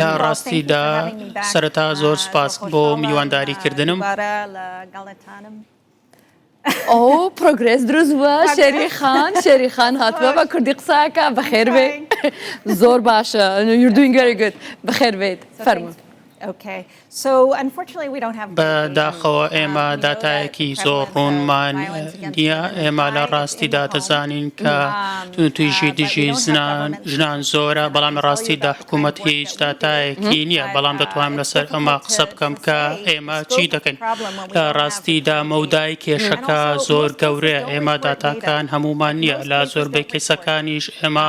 لە ڕاستیدا سەرەتا زۆر سپاس بۆ میوانداری کردنم. ئەو پرۆگرێس دروست بووە شێری خان شێری خان هاتووە بە کوردی قساکە بەخێربێ زۆر باشە یوردوین گەری گوت بەخێربێت فەرمونون. بە داخەوە ئێمە داتایەکی زۆر ڕوونمان نییە. ئێمە لە ڕاستیدا دەزانین کە توندوتیژی دژی ژنان زۆرە، بەڵام لە ڕاستیدا حکومەت هیچ داتایەکی نییە. بەڵام دەتوانم لەسەر ئەمە قسە بکەم کە ئێمە چی دەکەین. لە ڕاستیدا مەودای کێشەکە زۆر گەورەیە. ئێمە داتاکان هەموومان نییە. لە زۆربەی کەیسەکانیش ئێمە.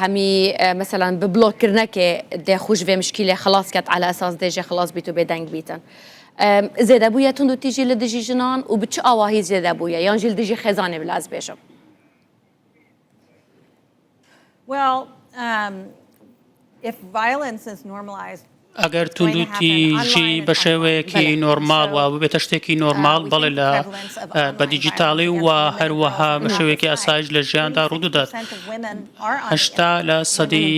هەمی مەسەلان بە بلۆک کردنەکێ دێ خوش ڤێ مشکیلێ خلاس کەت عەلا ئەساس دێژێ خلاس بیت و بێدەنگ بیتن. زێدەبوویە تند و تیژی لە دژی ژنان و بە چ ئاواهی زێدەبوویە یان ژیل دژی خێزانێ بلاز بێژم؟ Well, um, ئەگەر توندوتیژی بە شێوەیەکی نۆرماڵ و ببێتە شتێکی نۆرماڵ بەڵێ لە بە دیجیتاڵی و هەروەها بە شێوەیەکی ئاسایش لە ژیاندا ڕوودەدات هەشتا لە سەدی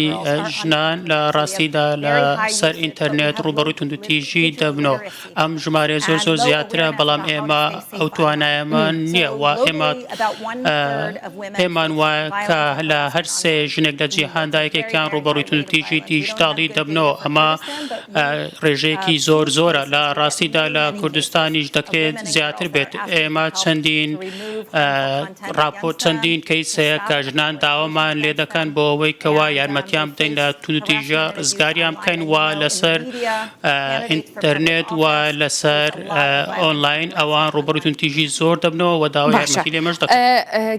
ژنان لە ڕاستیدا لە سەر ئینتەرنێت ڕوبەڕووی توندوتیژی دەبنەوە ئەم ژمارەیە زۆر زۆر زیاترە، بەڵام ئێمە ئەو توانایەمان نییە و ئێمە پێمان وایە کە لە هەر سێ ژنێک لە جیهاندا یەکێکیان ڕووبەڕووی توندوتیژی دیجیتاڵی دەبنەوە ئەمە ڕێژەیەکی زۆر زۆرە لە ڕاستیدا لە کوردستانیش دەکرێت زیاتر بێت ئێمە چەندین ڕاپۆ چەندین کەیسەیە کە ژنان داوامان لێ دەکەن بۆ ئەوەی کەوا یارمەتیان بدەین لە توندوتیژە ڕزگاریان بکەن وا لەسەر ئینتەرنێت و لەسەر ئۆنلاین ئەوان ڕوبەڕووی توندتیژی زۆر دەبنەوە و داوای باشە. یارمەتی لێمەش دەکەن ئە،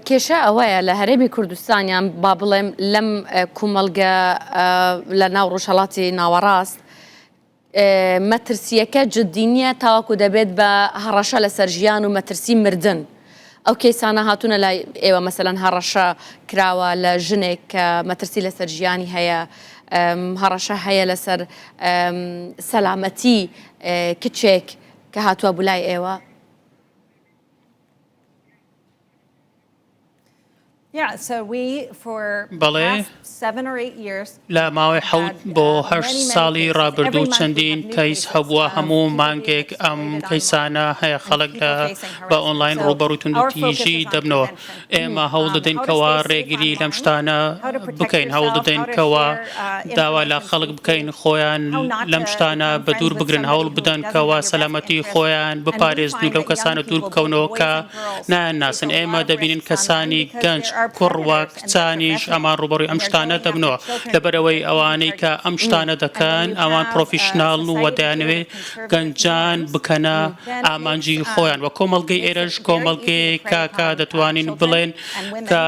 کێشە ئەوەیە لە هەرێمی کوردستان یان با بڵێم لەم ئە، کومەڵگە ئە، لە ناو ڕۆژهەڵاتی ناوەڕاست ئە، مەترسییەکە جدی نییە تاوەکو دەبێت بە هەڕەشە لەسەر ژیان و مەترسی مردن. ئەو کەیسانە هاتوونە لای ئێوە مەسەلەن هەڕەشە کراوە لە ژنێک کە مەترسی لەسەر ژیانی هەیە، هەڕەشە هەیە لەسەر سەلامەتی کچێک کە هاتووە بوو لای ئێوە؟ بەڵێ، لە ماوەی حەوت بۆ هەشت ساڵی ڕابردوو چەندین کەیس هەبووە، هەموو مانگێک ئەم کەیسانە هەیە، خەڵک بە ئۆنڵاین ڕووبەڕووی توندوتیژی دەبنەوە. ئێمە هەوڵدەدەین کەوا ڕێگری لەم شتانە بکەین، هەوڵدەدەین کەوا داوا لە خەڵک بکەین خۆیان لەم شتانە بەدوور بگرن، هەوڵبدەن کەوا سەلامەتی خۆیان بپارێزن و لەو کەسانە دوور بکەونەوە کە نایان ناسن، ئێمە دەبینین کەسانی گەنج، کوڕ و کچانیش ئەمان ڕووبەڕووی ئەم شتانە دەبنەوە، لەبەرئەوەی ئەوانەی کە ئەم شتانە دەکەن ئەوان پڕۆفیشناڵن و دەیانەوێت گەنجان بکەنە ئامانجی خۆیان و کۆمەڵگەی ئێرەش کۆمەڵگەیەکە کە دەتوانین بڵێن کە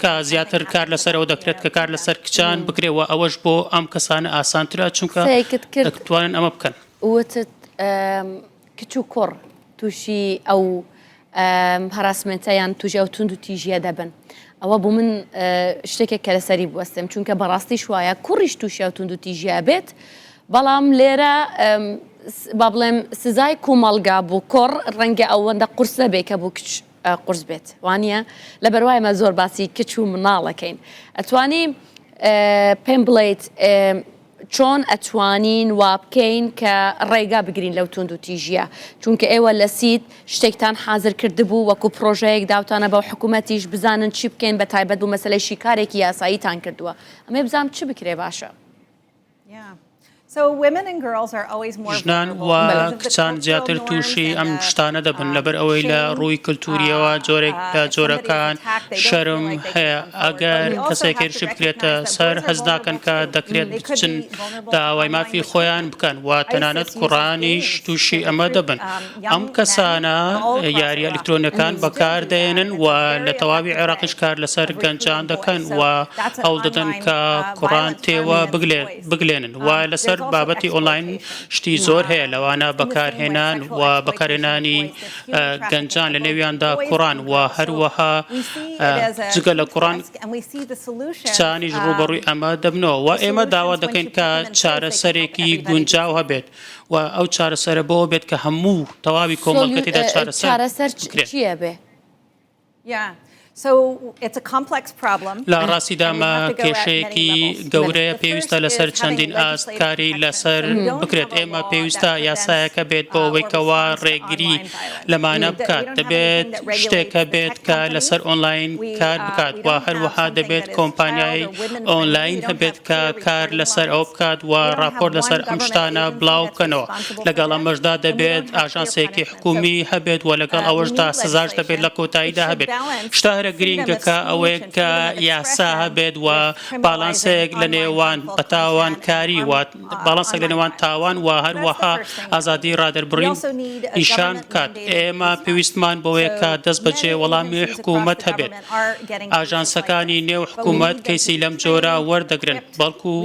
کە زیاتر کار لەسەر ئەوە دەکرێت کە کار لەسەر کچان بکرێت و ئەوەش بۆ ئەم کەسانە ئاسانترە چونکە دەتوانن ئەمە بکەن. وتت کچ و کوڕ تووشی ئەو هەراسمێنتە یان تووژی ئەو توند و تیژیە دەبن ئەوە بوو من شتێکێک کە لەسەری بوەستم چونکە بەڕاستیش وایە کوڕیش تووشی ئەو توند و تیژیا بێت بەڵام لێرە با بڵێم سزای کومەڵگا بوو کۆڕ ڕەنگە ئەوەندە قرس نەبێ کە بوو کچ قرس بێت وانە لە بەروایمە زۆر باسی کچ و مناڵەکەین ئەتوانی پێم بڵیت چۆن ئەتوانین وابکەین کە ڕێگا بگرین لەو توندوتیژیە؟ چونکە ئێوە لە سید شتێکتان حازر کردبوو وەکو پرۆژەیەک داوتانە بە حکومەتیش بزانن چی بکەین بە تایبەت بو مەسەلەی شیکارێکی یاساییتان کردووە ئەمەی بزانم چ بکرێ باشە؟ ژنان و کچان زیاتر تووشی ئەم شتانە دەبن لەبەر ئەوەی لە ڕووی کلتوریەوە جۆرێک لە جۆرەکان شەرم هەیە. ئەگەر کەسێک هێرش بکرێتە سەر، هەست ناکەن کە دەکرێت بچن داوای مافی خۆیان بکەن و تەنانەت کوڕانیش تووشی ئەمە دەبن. ئەم کەسانە یارییە ئەلیکترۆنییەکان بەکاردەهێنن و لە تەواوی عێراقیش کار لەسەر گەنجان دەکەن و هەوڵ دەدەن کە کوڕان تێوە بگلێنن و لەسەر بابەتی ئۆنلاین شتی زۆر هەیە لەوانە بەکارهێنان و بەکارهێنانی گەنجان لەنێویاندا کوڕان و هەروەها جگە لە کوڕان کچانیش ڕووبەڕووی ئەمە دەبنەوە و ئێمە داوا دەکەین کە چارەسەرێکی گونجاو هەبێت و ئەو چارەسەرە بەوە بێت کە هەموو تەواوی کۆمەڵگەتیدا چارەسەر چارەسەر چیە بێ؟ لە ڕاستیدا ئەمە کێشەیەکی گەورەیە، پێویستە لەسەر چەندین ئاست کاری لەسەر بکرێت، ئێمە پێویستە یاسایەکە بێت بۆ ئەوەی کەوا ڕێگری لەمانە بکات، دەبێت شتێک هەبێت کە لەسەر ئۆنلاین کار بکات و هەروەها دەبێت کۆمپانیای ئۆنلاین هەبێت کە کار لەسەر ئەوە بکات و ڕاپۆرت لەسەر ئەم شتانە بڵاوبکەنەوە، لەگەڵ ئەمەشدا دەبێت ئاژانسێکی. حکومی هەبێت وە لەگەڵ ئەوەشدا سزاش دەبێت لە کۆتاییدا هەبێت شتە هەرە گرینگەکە ئەوەیە کە یاسا هەبێت وە باڵانسەیەک لە نێوان بەتاوان کاری وە باڵانسەک لە نێوان تاوان وە هەروەها ئازادی ڕادەربڕین نیشان بکات ئێمە پێویستمان بۆیە کە دەست بەجێ وەڵامی حکوومەت هەبێت. ئاژانسەکانی نێو حکومەت کەیسی لەم جۆرە وەردەگرن، بەڵکو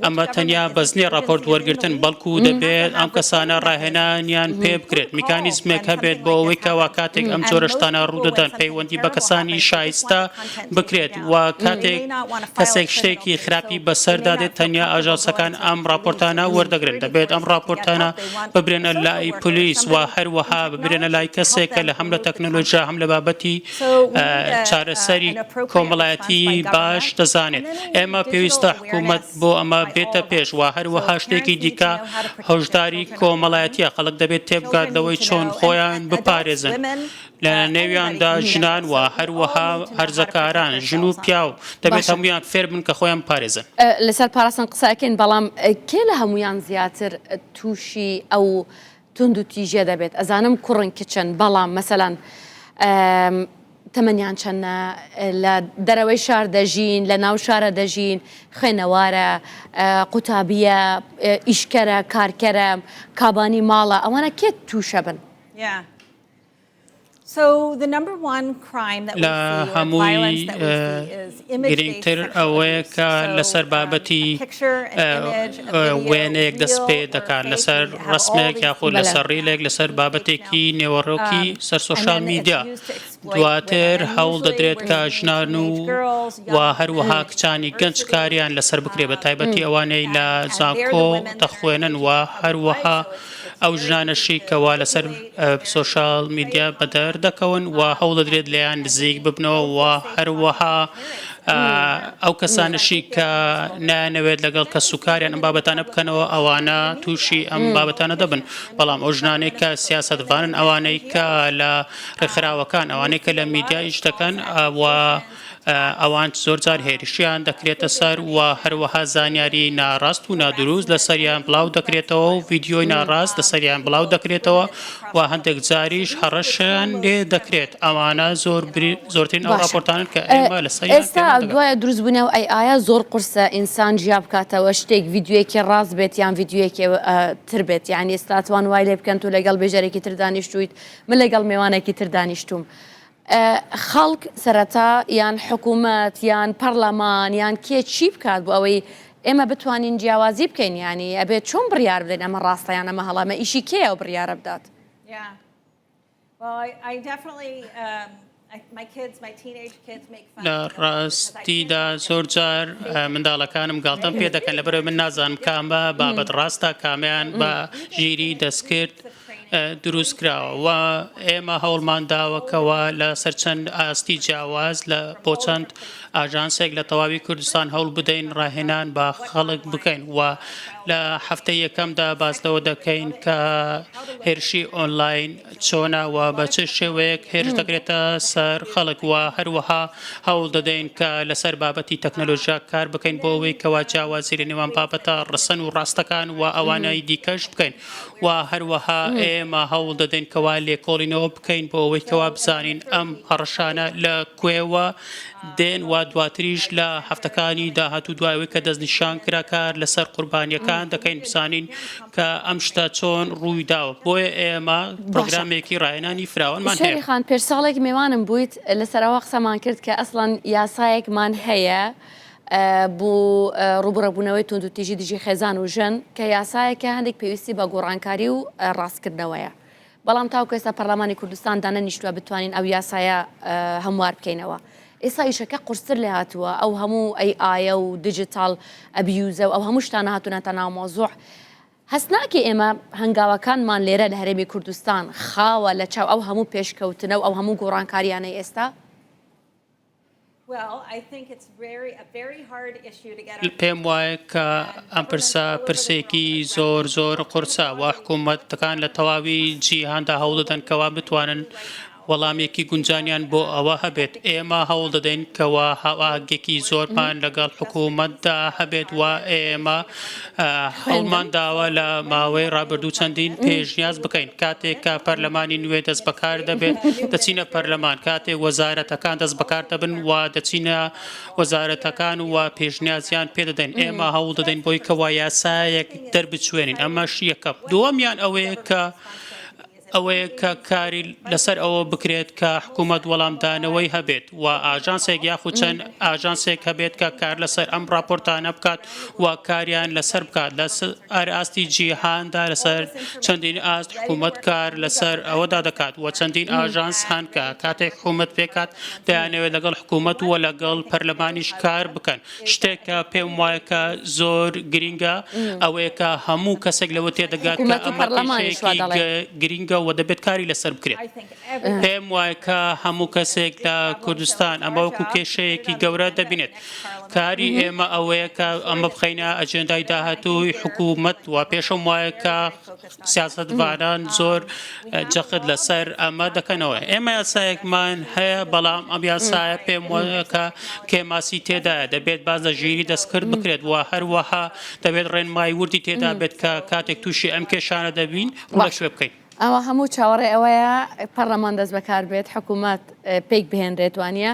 ئەمە تەنیا بەزنی ڕاپۆرت وەرگرتن، بەڵکو دەبێت ئەم کەسانە ڕاهێنانیان پێ بکرێت، میکانیزمێک هەبێت بۆ ئەوەی کەوا کاتێک ئەم جۆرە شتانە ڕوودەدەن پەیوەندی بە کەسانی شایستە بکرێت و کاتێک کەسێک شتێکی خراپی بەسەردا دێت تەنیا ئاژانسەکان ئەم ڕاپۆرتانە وەردەگرن، دەبێت ئەم ڕاپۆرتانە ببرێنە لای پۆلیس و هەروەها ببرێنە لای کەسێک کە هەم لە تەکنەلۆژیا هەم لە بابەتی چارەسەری کۆمەڵایەتی باش دەزانێت. ئێمە پێویستە حکومەت بۆ ئەمە بێتە پێش و هەروەها شتێکی دیکە هۆشداری کۆمەڵایەتیە، خەڵک دەبێت تێبگات لەوەی چۆن خۆیان بپارێزن لە نێویاندا ژنان و هەروەها هەرزەکاران ژن و پیاو دەبێت هەمویان فێربن کە خۆیان بپارێزن. لەسەر پاراستن قسە ئەکەین بەڵام کێ لە هەموویان زیاتر تووشی ئەو توندو تیژە دەبێت ئەزانم کوڕن کچن بەڵام مەسەلەن تەمەنیان چەنە لە دەرەوەی شار دەژین لە ناو شارە دەژین خوێنەوارە قوتابیە ئیشکەرە کارکەرە کابانی ماڵە ئەوانە کێت تووشە بن لە هەمووی گرینگتر ئەوەیە کە لەسەر بابەتی وێنەیەک دەست پێ دەکات لەسەر ڕسمێک یاخود لەسەر ڕیلێک لەسەر بابەتێکی نێوەڕۆکی سەر سۆشال میدیا دواتر هەوڵ دەدرێت کە ژنان و و هەروەها کچانی گەنج کاریان لەسەر بکرێ بە تایبەتی ئەوانەی لە زانکۆ دەخوێنن و هەروەها ئەو ژنانەشی کەوا لەسەر سۆشیال میدیا بەدەر دەکەون و هەوڵدەدرێت لێیان نزیک ببنەوە و هەروەها ئەو کەسانشی کە نایانەوێت لەگەڵ کەس و کاریان ئەم بابەتانە بکەنەوە ئەوانە تووشی ئەم بابەتانە دەبن بەڵام ئەو ژنانێک کە سیاستڤانن ئەوانەی کە لە ڕێکخراوەکان ئەوانەی کە لە میدیایش دەکەن و ئەوان زۆرجار هێرشیان دەکرێتە سەر و هەروەها زانیاری ناڕاست و نادروست لەسەریان بڵاو دەکرێتەوە و ڤیدیۆی ناڕاست لەسەریان بڵاو دەکرێتەوە و هەندێک جاریش هەڕەشەیان لێ دەکرێت ئەوانە زۆر زۆرترین ئەو راپۆرتانن کە ئێمە لەسەر ئێستا دوایە دروستبوونەوە ئەی ئایا زۆر قورسە ئینسان جیا بکاتەوە شتێک ڤیددیوەکی ڕاست بێت یان ڤیددیوەکی تر بێت یان ئێستاتوان وای لێ بکەن تو لەگەڵ بێژەرێکی تر دانیشتویت من لەگەڵ مێوانێکی تر دانیشتوم. خەڵک سەرەتا یان حکومەت یان پەڕلەمان یان کێ چی بکات بۆ ئەوەی ئێمە بتوانین جیاوازی بکەین یانی ئەبێت چۆن بڕیار بدەین ئەمە ڕاستە یان ئەمە هەڵە ئەمە ئیشی کێیە و بڕیارە بدات لە ڕاستیدا زۆرجار منداڵەکانم گاڵتەم پێ دەکەن لەبەرەوەی من نازانم کامە بابەت ڕاستە کامیان بە ژیری دەستکرد دروستکراوە و ئێمە هەوڵمان داوە کەوا لە سەر چەند ئاستی جیاواز لە بۆ چەند ئاژانسێک لە تەواوی کوردستان هەوڵ بدەین ڕاهێنان بە خەڵک بکەین و لە هەفتەی یەکەمدا باس لەوە دەکەین کە هێرشی ئۆنلاین چۆنە و بە چ شێوەیەک هێرش دەکرێتە سەر خەڵک و هەروەها هەوڵ دەدەین کە لەسەر بابەتی تەکنەلۆژیا کار بکەین بۆ ئەوەی کەوا جیاوازی لە نێوان بابەتە ڕسن و ڕاستەکان و ئەوانەی دیکەش بکەین و هەروەها ئێمە هەوڵ دەدەین کەوا لێکۆڵینەوە بکەین بۆ ئەوەی کەوا بزانین ئەم هەڕەشانە لە کوێوە دێن و دواتریش لە هەفتەکانی داهاتوو دوایەوەی کە دەستنیشان کرا کار لەسەر قوربانیەکان دەکەین بزانین کە ئەم شتە چۆن ڕووی داوە بۆیە ئێمە پرۆگرامێکی ڕاهێنانی فراوانمان هەیە خان پێش ساڵێک مێوانم بوویت لەسەرەوە قسەمان کرد کە ئەسڵەن یاسایەکمان هەیە بۆ ڕووبەڕبوونەوەی توندوتیژی دژی خێزان و ژن کە یاسایەکە هەندێک پێویستی بە گۆڕانکاری و ڕاستکردنەوەیە بەڵام تاوکو ئێستا پەرلەمانی کوردستان دانەنیشتووە بتوانین ئەو یاسایە هەموار بکەینەوە ئێستا ئیشەکە قورستر لێ هاتووە ئەو هەموو ئەی ئاە و دیجیتال ئەبیوزە و ئەو هەموو شتانە هاتوونە تا ناو مۆزوع هەست ناکە ئێمە هەنگاوەکانمان لێرە لە هەرێمی کوردستان خاوە لە چاو ئەو هەموو پێشکەوتنە و ئەو هەموو گۆڕانکاریانەی ئێستا پێم وایە کە ئەم پرسە پرسێکی زۆر زۆر قورسە و حکوومەتەکان لە تەواوی جیهاندا هەوڵ دەدەن کەوا بتوانن وەڵامێکی گونجانیان بۆ ئەوە هەبێت ئێمە هەوڵ دەدەین کەوا هەواگێکی زۆرمان لەگەڵ حکوومەتدا هەبێت و ئێمە هەوڵمان داوە لە ماوەی ڕابردوو چەندین پێشنیاز بکەین، کاتێک کە پەرلەمانی نوێ دەست بەکار دەبێت دەچینە پەرلەمان، کاتێک وەزارەتەکان دەست بەکار دەبن و دەچینە وەزارەتەکان و پێشنیازیان پێ دەدەین، ئێمە هەوڵ دەدەین بۆی کەوا یاسایەک دەربچوێنین، ئەمەش یەکەم، دووەمیان ئەوەیە کە. ئەوەیە کە کاری لەسەر ئەوە بکرێت کە حکوومەت وەڵامدانەوەی هەبێت و ئاژانسێک یاخود چەند ئاژانسێک هەبێت کە کار لەسەر ئەم ڕاپۆرتانە بکات و کاریان لەسەر بکات لەسەر ئاستی جیهاندا لەسەر چەندین ئاست حکوومەت کار لەسەر ئەوەدا دەکات و چەندین ئاژانس هەن کە کاتێک حکوومەت پێکات دەیانەوێت لەگەڵ حکوومەت و لەگەڵ پەرلەمانیش کار بکەن شتێک کە پێم وایە کە زۆر گرینگە ئەوەیە کە هەموو کەسێک لەوە تێدەگات کە ئەمە پەرلەمانێکی گرینگە و دەبێت کاری لەسەر بکرێت پێم وایە کە هەموو کەسێک لە کوردستان ئەمە وەکو کێشەیەکی گەورە دەبینێت کاری ئێمە ئەوەیە کە ئەمە بخینە ئەجێندای داهاتووی حکوومەت و پێشم وایە کە سیاسەتڤانان زۆر جەخت لەسەر ئەمە دەکەنەوە، ئێمە یاسایەکمان هەیە، بەڵام ئەم یاسایە پێم وایە کە کێماسی تێدایە، دەبێت باس لە ژیریی دەستکرد بکرێت و هەروەها دەبێت ڕێنمایی وردی تێدا بێت کە کاتێک تووشی ئەم کێشانە دەبین ڕووبەر شوێ بکەین. ئەوە هەموو چاوەڕێ ئەوەیە پەڕلەمان دەستبەکار بێت، حکوومەت پێک بهێنرێت، وانییە؟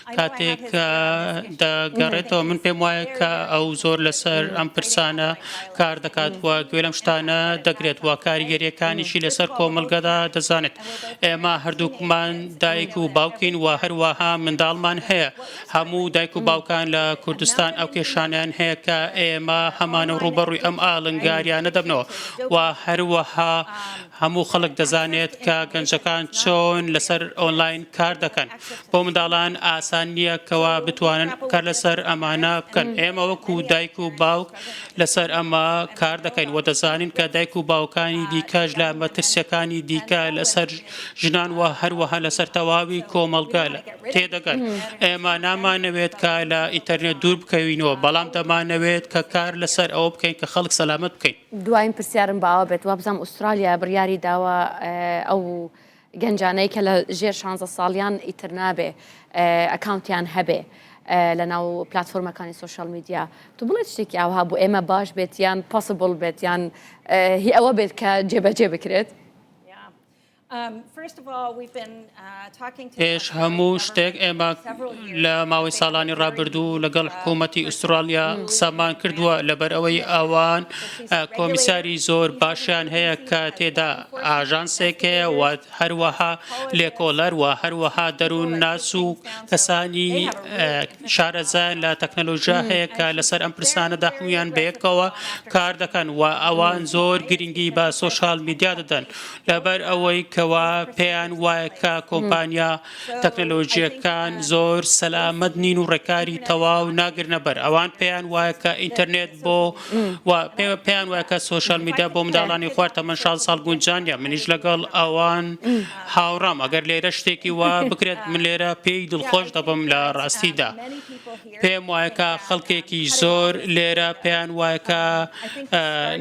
کاتێک دەگەڕێتەوە من پێم وایە کە ئەو زۆر لەسەر ئەم پرسانە کار دەکات و گوێ لەم شتانە دەگرێت و کاریگەریەکانیشی لەسەر کۆمەلگەدا دەزانێت ئێمە هەردووکمان دایک و باوکین و هەروەها منداڵمان هەیە هەموو دایک و باوکان لە کوردستان ئەو کێشانیان هەیە کە ئێمە هەمانە ڕوبەڕووی ئەم ئالنگاریانە دەبنەوە و هەروەها هەموو خەڵک دەزانێت کە گەنجەکان چۆن لەسەر ئۆنلاین کار دەکەن. بۆ منداڵان ئاسان نییە کەوا بتوانن کار لەسەر ئەمانە بکەن. ئێمە وەکو دایک و باوک لەسەر ئەمە کار دەکەین و دەزانین کە دایک و باوکانی دیکەش لە مەترسییەکانی دیکە لەسەر ژنان و هەروەها لەسەر تەواوی کۆمەڵگە تێدەگەن. ئێمە نامانەوێت کە لە ئینتەرنێت دوور بکەوینەوە، بەڵام دەمانەوێت کە کار لەسەر ئەوە بکەین کە خەڵک سەلامەت بکەین. دواین پرسیارم بۆ ئەوە بێت، وابزانم ئوسترالیا بڕیاری داوە ئەو گەنجانەی کە لە ژێر شانزە ساڵیان ئیتر نابێ ئەکاونتیان هەبێ لە ناو پلاتفۆرمەکانی سۆشیال میدیا تو بڵێ شتێکی ئاوها بۆ ئێمە باش بێت یان پاسبڵ بێت یان هی ئەوە بێت کە جێبەجێ بکرێت پێش هەموو شتێک ئێمە لە ماوەی ساڵانی ڕابردوو لەگەڵ حکوومەتتی ئوسترالیا قسەمان کردووە لەبەر ئەوەی ئەوان کۆمیساری زۆر باشیان هەیە کە تێدا ئاژانسێک هەیە و هەروەها لێکۆڵەر و هەروەها دەروون ناس و کەسانی شارەزایان لە تەکنەلۆژیا هەیە کە لەسەر ئەم پرسانەدا هەمویان بەیەکەوە کار دەکەن و ئەوان زۆر گرنگی بە سۆشال میدیا دەدەن لەبەر ئەوەی کەوا پێیان وایە کە کۆمپانیا تەکنەلۆژییەکان زۆر سەلامەت نین و ڕێکاری تەواو ناگرنە بەر، ئەوان پێیان وایە کە ئینتەرنێت بۆ و پێیان وایە کە سۆشیال میدیا بۆ منداڵانی خوار تەمەن شازدە ساڵ گونجان نییە، منیش لەگەڵ ئەوان هاوڕام، ئەگەر لێرە شتێکی وا بکرێت من لێرە پێی دڵخۆش دەبم لە ڕاستیدا. پێم وایە کە خەڵکێکی زۆر لێرە پێیان وایە کە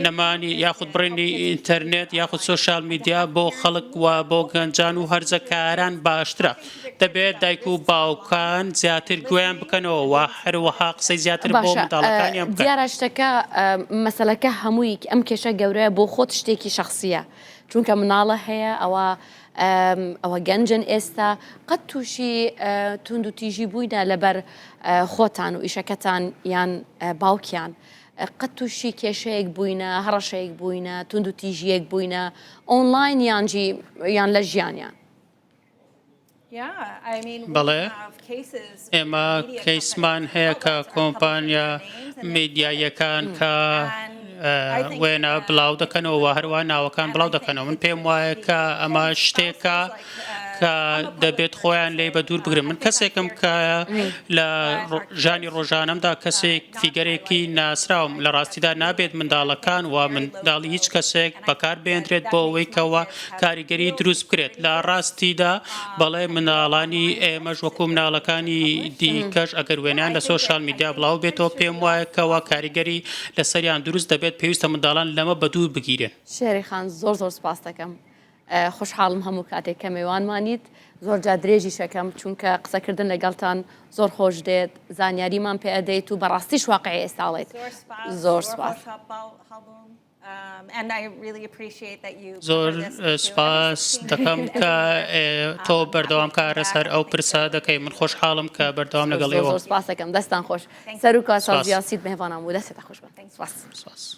نەمانی یاخود بڕینی ئینتەرنێت یاخود سۆشال میدیا بۆ خەڵک و بۆ گەنجان و هەرزەکاران باشترە دەبێت دایک و باوکان زیاتر گوێیان بکەنەوە و هەروەها قسەی زیاتر بۆ باشە منداڵەکانیان بکەن. دیارە شتەکە ئە، مەسەلەکە هەمووی ئەم کێشە گەورەیە بۆ خۆت شتێکی شەخسییە چونکە مناڵە هەیە ئەوە ئەوە گەنجن ئێستا قەت تووشی توندوتیژی بووینە لەبەر خۆتان و ئیشەکەتان یان باوکیان قەت تووشی کێشەیەک بووینە هەڕەشەیەک بووینە تونند و تیژیەک بووینە ئۆنلاین یانجی یان لە ژیانیان بەڵێ ئێمە کەیسمان هەیە کە کۆمپانیا میدیاییەکان کە وێنە بڵاو دەکەنەوە و هەروە ناوەکان بڵاو دەکەنەوە من پێم وایە کە ئەمە شتێکە کە دەبێت خۆیان لی بە دوور بگرن من کەسێکم کە لە ژانی ڕۆژانمدا کەسێک فیگەرێکی ناسراوم لە ڕاستیدا نابێت منداڵەکان و منداڵی هیچ کەسێک بەکار بێندرێت بۆ ئەوەی کەەوە کاریگەری دروست بکرێت لە ڕاستیدا بەڵێ مناڵانی ئێمەش وەکو مناڵەکانی دیکەش ئەگەر وێنەیان لە سۆشیال میدیا بڵاو بێتەوە پێم وایە کەوا کاریگەری لەسەریان دروست دەبێت پێویستە منداڵان لەمە بە دوور بگیرێن شێری خان زۆر زۆر سپاس دەکەم خوشحاڵم هەموو کاتێک کە مێوانمانیت زۆر جا درێژی شەکەم چونکە قسەکردن لەگەڵتان زۆر خۆش دێت زانیاریمان پێ ئەدەیت و بەڕاستی شواقع ئێستاڵێت زۆر سپاس. زۆر سوپاس دەکەم کە تۆ بەردەوام کارە سەر ئەو پرسە دەکەی من خۆشحاڵم کە بەردەوام لەگەڵ ئێوە سپاسەکەم دەستان خۆش سەر و کاسیاسی مێوانان بوو دەستێتە خۆش سپاس.